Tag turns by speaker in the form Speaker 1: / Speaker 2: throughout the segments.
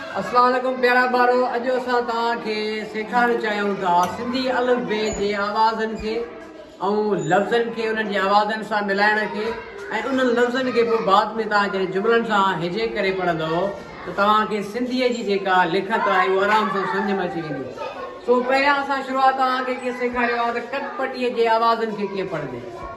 Speaker 1: اسلام عليڪم پيارا ٻارو اڄ اسان توهان کي سيکارڻ چاهيون ٿا سنڌي الف بي جي آوازن کي ۽ لفظن کي انهن جي آوازن سان ملائڻ کي ۽ انهن لفظن کي به بعد ۾ توهان جڏهن جملن سان هجي ڪري پڙهندو ته توهان کي سنڌي جي جيڪا لکت آهي اهو آرام سان سمجھ ۾ اچي ويندي سو پهريان اسان شروعات توهان کي ڪيئن سيکاريو آهي ته ڪٽ پٽي جي آوازن کي ڪيئن پڙهجي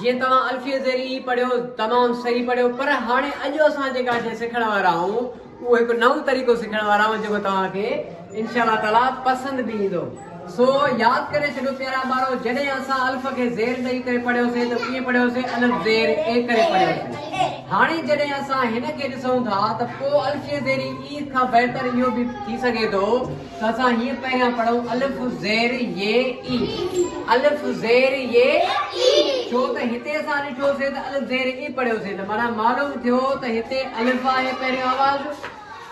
Speaker 1: جيئن توهان الفيء زيري ئي پڙهيو، تمام صحيح پڙهيو، پر هاڻي اڄ اسان جيڪا شيء سکڻ وارا آهون، اهو هڪ نئون طريقو سکڻ وارا آهون، جيڪو توهان کي انشاء الله تعاليٰ پسند به ايندو. سو ياد ڪري ڇڏيو پيارا ٻارو، جڏهن اسان الف کي زير ڏئي ڪري پڙهيو سين ته ڪيئن پڙهيو سين، الف زير اي ڪري پڙهيو سين. هاڻي جڏهن اسان هن کي ڏسون ٿا ته پوء الفيء زيري اي کان بهتر اهو به ٿي سگهي ٿو، اسان هيء پهريان پڙهون الف زير ي اي الف زير ي اي ڇو ته هتي اسان ڏٺوسين ته الف زير ي اي پڙهيوسين ته معنيٰ معلوم ٿيو ته هتي الف آهي پهريون آواز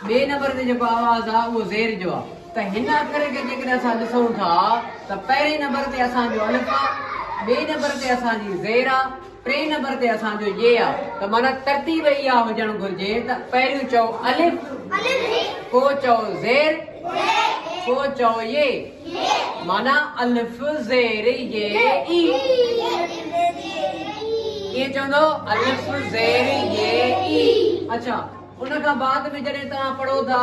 Speaker 1: ٻئي نمبر تي جيڪو آواز آهي اهو زير جو آهي ته هن اکر کي جيڪڏهن اسان ڏسون ٿا ته پهرين نمبر تي اسان جو الف آهي ٻئي نمبر تي اسان جي زير آهي ٽئين نمبر تي اسان جو ي آ ته معنيٰ ترتيب اها هجڻ گهرجي ته پهريون چئو الف پوء چئو زير پوء چئو ي معنيٰ الف زير ي اي ڪيئن چوندو الف زير ي اي اڇا ان کان بعد ۾ جڏهن توهان پڙهو ٿا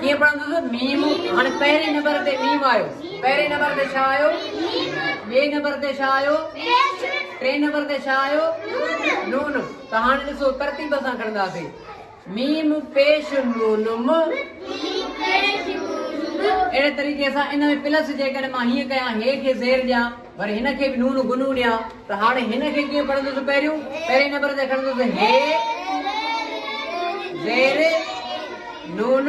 Speaker 1: ڪيئن پڙهندس ميم هاڻي پهرين نمبر تي ميم آيو پهرين نمبر تي ڇا آيو ٻئي نمبر تي ڇا آيو ٽئين نمبر تي ڇا آيو نون ته هاڻي ڏسو ترتيب سان کڻنداسي ميم پيش نون م اهڙي طريقي سان ان ۾ پلس جيڪڏهن مان هيئن ڪيان هي کي زير ڏيان وري هن کي به نون گنون ڏيان ته هاڻي هن کي ڪيئن پڙهندس پهريون پهرين نمبر تي کڻندس هي زير نون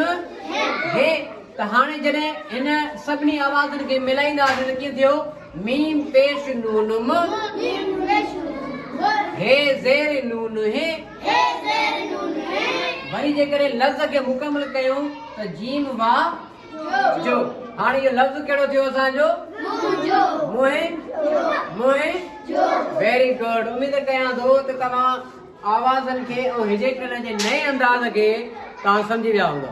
Speaker 1: هي ته هاڻي جڏهن هن سڀني آوازن کي ملائينداسين ته ڪيئن ٿيو ميم پيش نون م هي زير نون هي وري جيڪڏهن لفظ کي مڪمل ڪيون ته جيم وا جو هاڻ اهو لفظ ڪهڙو ٿيو اسان جو منهنجو منهنجو منهنجو ويري گڊ اميد ڪيان ٿو ته توهان آوازن کي ۽ هجيڪٽن جي نئين انداز کي توهان سمجهي ويا هوندا